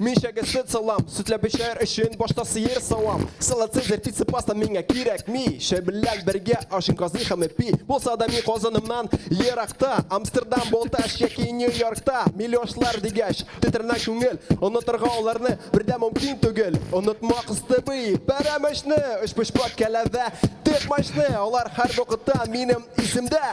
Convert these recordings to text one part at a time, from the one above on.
Мин чәгә сөт салам, сөтлә бешәр өчен башта сыер савам. Салат сезер пицца паста миңа кирәкми. Чәй белән бергә ашын казый һәм эпи. Булса да мин казанымнан еракта. Амстердам, Болташ яки Нью-Йоркта. Милошлар дигәч, тетрәнә күңел. Онытырга аларны бердә мөмкин түгел. Онытма кыстыбый, пәрәмәчне, өчпочмак кәләвә, текмачны. Алар һәрвакытта минем исемдә.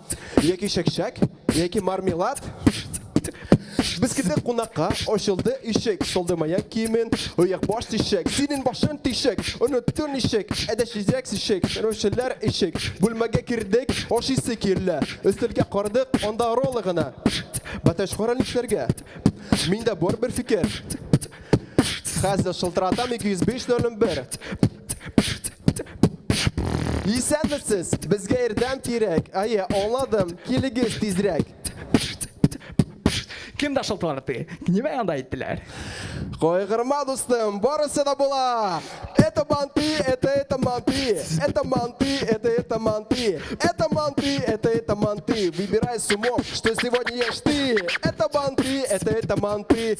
Яки чәкчәк, яки мармелад. Без килдек кунакка, ачылды ишек, солды маяк киемен, ояк баш тишек, синен башын тишек, онытты нишек, әдә чизәк сишек, рөшеләр ишек. Бүлмәгә кердек, ашыйсы килә. Өстәлгә кардык, анда роллы гына. Бәтәч кара нишләргә? Миндә бар бер фикер. Хәзер шылтыратам 205 01. Исәнмесез, безгә ярдәм кирәк. Әйе, аңладым, килегез тизрәк. Кем дә шылтырды? Нимә анда әйттеләр? Кайгырма, дустым, барысы да була. Это манты, это это манты, это манты, это это манты, это манты, это это манты. Выбирай с умом, что сегодня ешь ты. Это манты, это это манты,